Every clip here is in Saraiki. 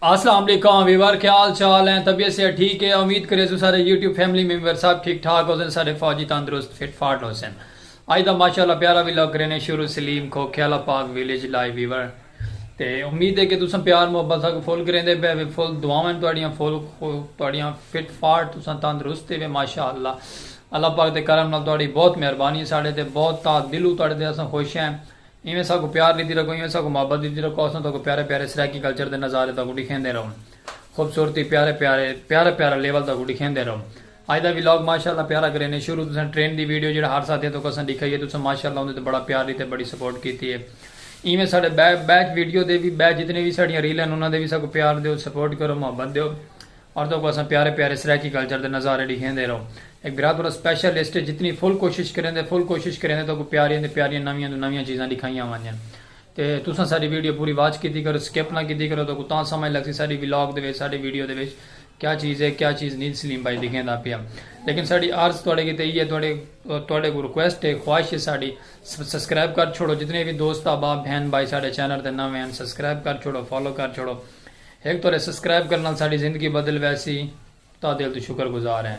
اسلام علیکم ویور کیا حال چال ہیں طبیعت سے ٹھیک ہے امید کرے سو سارے یوٹیوب فیملی ممبر صاحب ٹھیک ٹھاک ہو سن سارے فوجی تندرست فٹ فاٹ ہو سن آج دا ماشاءاللہ پیارا بھی لوگ رہنے شروع سلیم کھو کھیلا پاک ویلیج لائیو ویور تے امید ہے کہ تساں پیار محبت سا کو فل کریں دے بے فل دعاواں تواڈیاں فل تواڈیاں فٹ فاٹ تساں تندرست تے ماشاءاللہ اللہ پاک دے کرم نال تواڈی بہت مہربانی ساڈے تے بہت تا دلو تواڈے تے اساں خوش ہیں ایویں ساکوں پیار ڈیندی رکھو ایویں ساکوں محبت ڈیندی رکھو اساں تہاکوں پیارے پیارے سرائیکی کلچر دے نظارے تہاکوں ڈکھیندے رہوں خوبصورتی پیارے پیارے پیارا پیارا لیول تہاکوں ڈکھیندے رہوں اج دا ولاگ ماشاءاللہ پیارا کرینے شروع تساں ٹرین دی ویڈیو جیڑھا ہر ساتھیاں تہاکوں اساں ڈکھائی ہے تساں ماشاءاللہ اوندے تے بڑا پیار ڈتے بڑی سپورٹ کیتی ہے ایویں ساڈے بے بیک ویڈیو دے وی بے جتنے وی ساڈیاں ریلاں انہاں دے وی ساکوں پیار دیو سپورٹ کرو محبت دیو۔ عورتوں کوں اساں پیارے پیارے سرائیکی کلچر دے نظارے ڈکھیندے رہو اے گرابرو سپیشل لسٹ اچ جتنی فل کوشش کریندے فل کوشش کریندے تہاکوں پیاریاں تے پیاریاں نویاں توں نویاں چیزاں ڈکھائیاں ونجن تے تساں ساڈی ویڈیو پوری واچ کیتی کرو سکپ نہ کیتی کرو تہاکوں تاں سمجھ لگسی ساڈی ولاگ دے وچ ساڈی ویڈیو دے وچ کیا چیز اے کیا چیز نی سلیم بھائی ڈکھیندا پیا لیکن ساڈی عرض تہاڈے کیتے ایہہ تہاڈے تہاڈے کوں ریکویسٹ اے خواہش اے ساڈی سبسکرائب کر چھوڑو جتنے وی دوست احباب بہن بھائی ساڈے چینل تے نویں ہن سبسکرائب کر چھوڑو فالو کر چھوڑو ہک تہاڈے سسکرائب کرن نال ساڈی زندگی بدل ویسی تہاڈے دل توں شکر گزار ہیں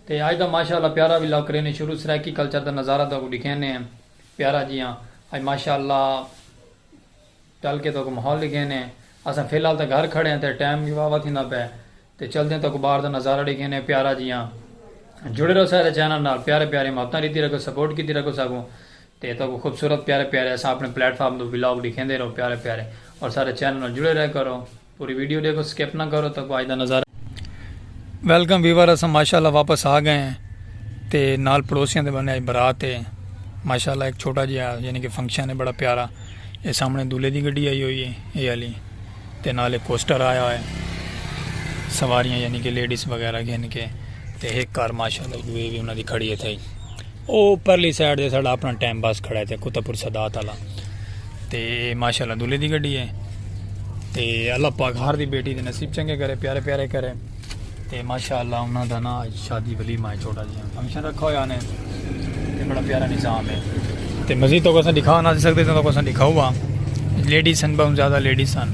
تے اج دا ماشاء اللہ پیارا ولاگ کرینے شروع سرائیکی کلچر دا نظارہ تہاکوں ڈکھینے پیارا جیاں اج ماشاء اللہ چل کے تہاکوں ماحول ڈکھینے اساں فی الحال تاں گھر کھڑے ہیں تے ٹائم وی واوا تھیندا پئے تے چلدے تہاکوں باہر دا نظارہ ڈکھینے پیارا جیاں جڑے رہو ساڈے چینل نال پیارے پیارے محبتاں ڈیتی رکھو سپورٹ کیتی رکھو ساکوں تے تہاکوں خوبصورت پیارے پیارے اساں اپنے پلیٹ فارم توں ولاگ ڈکھیندے رہوں پیارے پیارے اور سارے چینل نال جڑے رہے کرو پوری ویڈیو ڈیکھو سکپ نہ کرو تہاکوں اج دا نظارہ ویلکم ویور اساں ماشاءاللہ واپس آ گئے ہیں تے نال پڑوسیاں دے بنے اج برات ہے ماشاءاللہ ایک چھوٹا جہا یعنی کہ فنکشن ہے بڑا پیارا اے سامنے دولے دی گڈی آئی ہوئی ہے اے والی تے نال ایک کوسٹر آیا ہوا ہے سواریاں یعنی کہ لیڈیز وغیرہ گھن کے تے ایک کار ماشاءاللہ جو اے وی انہاں دی کھڑی ہے تھئی او پرلی سائیڈ تے ساڈا اپنا ٹائم باس کھڑا ہے تے کتا پور سادات والا تے ماشاءاللہ دولے دی گڈی ہے تے اللہ پاک ہر دی بیٹی دے نصیب چنگے کرے پیارے پیارے کرے تے ماشاءاللہ انہاں دا نا شادی ولی مائے چھوٹا جی فنکشن رکھا ہویا نے تے بڑا پیارا نظام ہے تے مزید تو کسا دکھا نہ سکتے تو کسا دکھا ہوا لیڈیز سن بہت زیادہ لیڈیز سن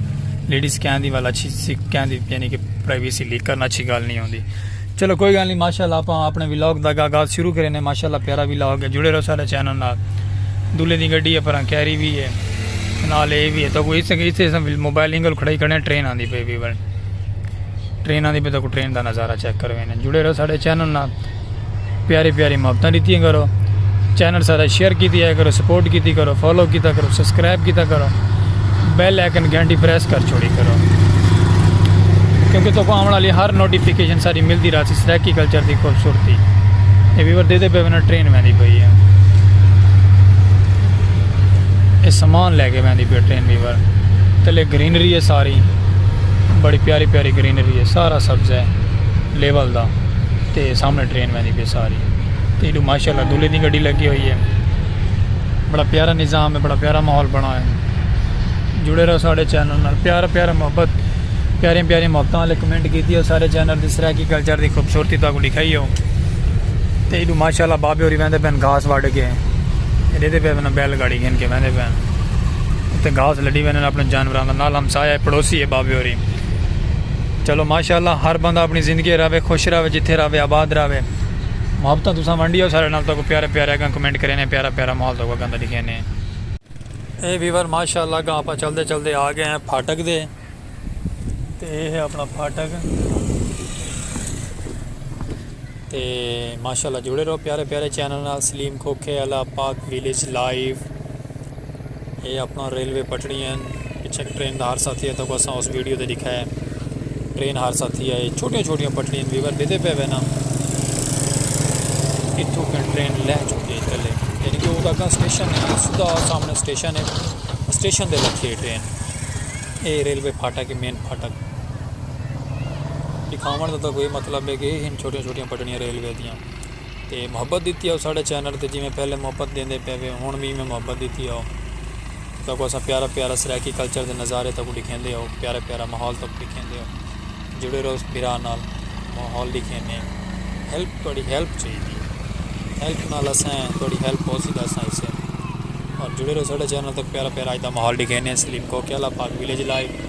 لیڈیز کہن دی والا اچھی کہن دی یعنی کہ پرائیویسی لیک کرنا اچھی گال نہیں ہوندی چلو کوئی گال نی ماشاءاللہ آپاں اپنے ولاگ دا آغاز شروع کرے نے ماشاءاللہ پیارا ولاگ ہے جڑے رہو سارے چینل نال دلے دی گڈی ہے پراں کیری بھی ہے نال اے بھی ہے تو کوئی اس سے اس سے موبائل اینگل کھڑائی کھڑے ٹرین آندی پے بھی بن ٹرین آندی پے تو کو ٹرین دا نظارہ چیک کروینے جڑے رہو سارے چینل نال پیاری پیاری محبتاں ڈتیاں کرو چینل سارا شیئر کیتی ہے کرو سپورٹ کیتی کرو فالو کیتا کرو سبسکرائب کیتا کرو بیل آئکن گھنٹی پریس کر چھوڑی کرو کیونکہ تو کو آمن والی ہر نوٹیفیکیشن ساری ملتی رہا سی سریکی کلچر دی خوبصورتی یہ ویور دے دے پہ بنا ٹرین میں دی پئی ہے یہ سامان لے کے میں دی پہ ٹرین ویور تلے گرینری ہے ساری بڑی پیاری پیاری گرینری ہے سارا سبز ہے لیول دا تے سامنے ٹرین ویندی پی ساری تے ایڈو ماشاءاللہ دولے دی گڈی لگی ہوئی ہے بڑا پیارا نظام ہے بڑا پیارا ماحول بنا ہویا ہے جڑے رہو سارے چینل نال پیارا پیارا محبت پیارے پیارے محبتاں والے کمنٹ کیتی ہو سارے چینل دی سرائیکی کلچر دی خوبصورتی تاکو دکھائی ہو تے ایڈو ماشاءاللہ بابے ہوری ویندے پین گھاس وڈ کے ایڈے دے پین بیل گاڑی گھن کے ویندے پین تے گھاس لڈی ویندے اپنے جانوراں دا نال ہمسایہ پڑوسی ہے بابے ہوری چلو ماشاءاللہ ہر بندہ اپنی زندگی راوے خوش راوے جتھے راوے آباد راوے محبتہ تساں ونڈیو سارے نال تو کو پیارے پیارے اگاں کمنٹ کرینے پیارا پیارا مال تو کو اگاں دا دکھینے اے ویور ماشاءاللہ اگاں اپا چل دے چل دے آ گئے ہیں پھاٹک دے تے اے ہے اپنا پھاٹک تے ماشاءاللہ جڑے رہو پیارے پیارے چینل نال سلیم کھوکھے اللہ پاک ویلیج لائیو اے اپنڑاں ریلوے پٹڑی ہن پچھے ایک ٹرین دا حادثہ تھیا تکو اساں اس ویڈیو تے ڈکھا ہے ٹرین حادثہ تھیا ہے چھوٹیاں چھوٹیاں پٹڑیاں ویور بیدے پہ وینا اتھو کن ٹرین لہ چکی ہے چلے یعنی کہ وہ اگاں سٹیشن ہے سدھا سامنے سٹیشن ہے سٹیشن دے لکھی ہے ٹرین اے ریلوے پھاٹا کے مین پھاٹا دکھاون دا کوئی مطلب ہے کہ ہن چھوٹیاں چھوٹیاں پٹڑیاں ریلوے دیاں تے محبت ڈتی ہاؤ ساڈے چینل تے جیویں پہلے محبت ڈیندے پے وے ہن وی ایویں محبت ڈتی ہاؤ تے تاکو اساں پیارا پیارا سرائیکی کلچر دے نظارے تاکو ڈکھیندے ہاؤ پیارا پیارا ماحول تاکو ڈکھیندے ہاؤ جڑے رہو اس بھرا نال ماحول ڈکھینے ہیلپ تہاڈی ہیلپ چاہیدی ہے ہیلپ نال اساں تہاڈی ہیلپ ہو سی تے اساں اسے اور جڑے رہو ساڈے چینل تاکو پیارا پیارا اج دا ماحول ڈکھینے سلیم کوکیالہ پاک ولیج لائیو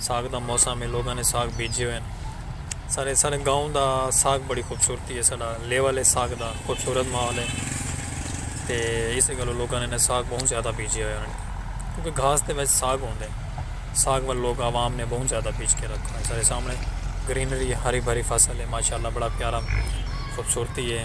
ساگ دا موسم ہے لوگاں نے ساگ بیجے ہوئے ہیں سارے سارے گاؤں دا ساگ بڑی خوبصورتی ہے سارا لیول ہے ساگ دا خوبصورت ماحول ہے تے اس گلو لوگاں نے ساگ بہت زیادہ بیجے ہوئے ہیں کیونکہ گھاس دے وچ ساگ ہوندے ہیں ساگ وال لوگ عوام نے بہت زیادہ بیج کے رکھا ہے سارے سامنے گرینری ہری بھری فصل ہے ماشاءاللہ بڑا پیارا خوبصورتی ہے